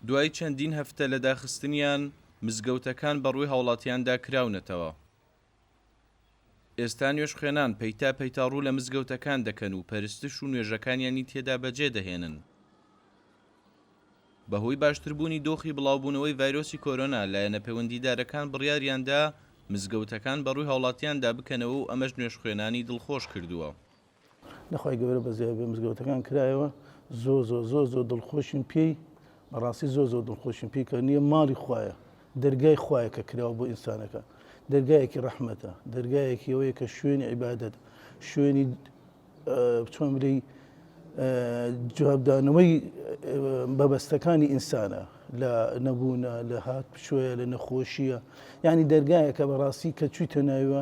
دوای چەندین هەفتە لە داخستنیان، مزگەوتەکان بە ڕووی هاوڵاتیاندا کراونەتەوە. ئێستا نوێژخوێنان پەیتا پەیتا ڕوو لە مزگەوتەکان دەکەن و پەرستش و نوێژەکانیانی تێدا بەجێ دەهێنن. بە هۆی باشتربوونی دۆخی بڵاوبوونەوەی ڤایرۆسی کۆرۆنا، لایەنە پێوەندیدارەکان بڕیاریان دا مزگەوتەکان بە ڕووی هاوڵاتیاندا بکەنەوە و ئەمەش نوێژخوێنانی دڵخۆش کردووە. لە خوای گەورە بەزیای بێ مزگەوتەکان کرایەوە زۆر زۆر زۆر زۆر دڵخۆشین پێی بەڕاستی زۆر زۆر دڵخۆشین پێی کە نییە ماڵی خوایە دەرگای خوایە کە کراوە بۆ ئینسانەکە دەرگایەکی ڕەحمەتە دەرگایەکی ئەوەیە کە شوێنی عیبادت شوێنی بچۆن بلی جوابدانەوەی بەبەستەکانی ئینسانە لە نەبوونە لە هات پچۆیە لە نەخۆشیە یعنی دەرگایە کە بەڕاستی کە چوویتە ناوە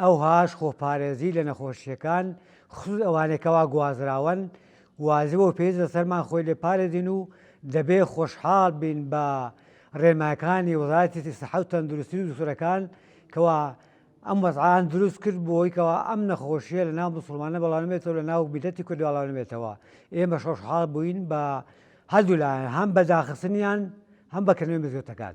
ئەوهاش خۆپارێزی لە نەخۆشییەکان خصوص ئەوانەی کەوا گوازراوەن واجبە و پێویست لەسەرمان خۆی لێ پارێزین و دەبێ خۆشحاڵ بین بە ڕێنمایەکانی وەزارەتی سەحە و تەندروستی و دوکتورەکان کەوا ئەم وەزعان دروست کرد بۆی کەوا ئەم نەخۆشیە لە ناو مسلمانە بەڵاونمێتەوە لە ناو بیدەتی کرد بەڵاونمێتەوە ئێمە شۆشحاڵ بووین بە هەردوولایەن هەم بە داخستنیان هەم بەکردنەوەی مزگەوتەکان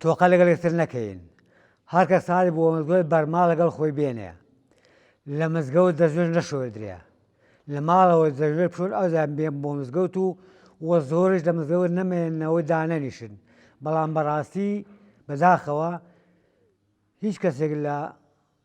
تۆقە لەگەڵ یەکتر نەکەین هەرکەس تاڵی بووە مزگەوت بەرماڵ لەگەڵ خۆی بێنێ لە مزگەوت دەستنوێژ نەشۆردرێ لە ماڵەوە دەستنوێژ بشۆن ئەوجا بێن بۆ مزگەوت و و زۆرش لە مزگەوت نەمێنەوە دانەنیشن بەڵام بەڕاستی بەداخەوە هیچ کەسێک لە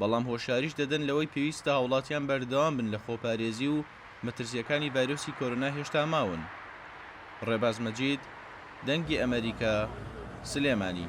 بەڵام هۆشیاریش دەدەن لەوەی پێویستە هاوڵاتیان بەردەوام بن لە خۆپارێزی و مەترسیەکانی ڤایرۆسی کۆرۆنا هێشتا ماون. ڕێباز مەجید، دەنگی ئەمەریکا، سلێمانی.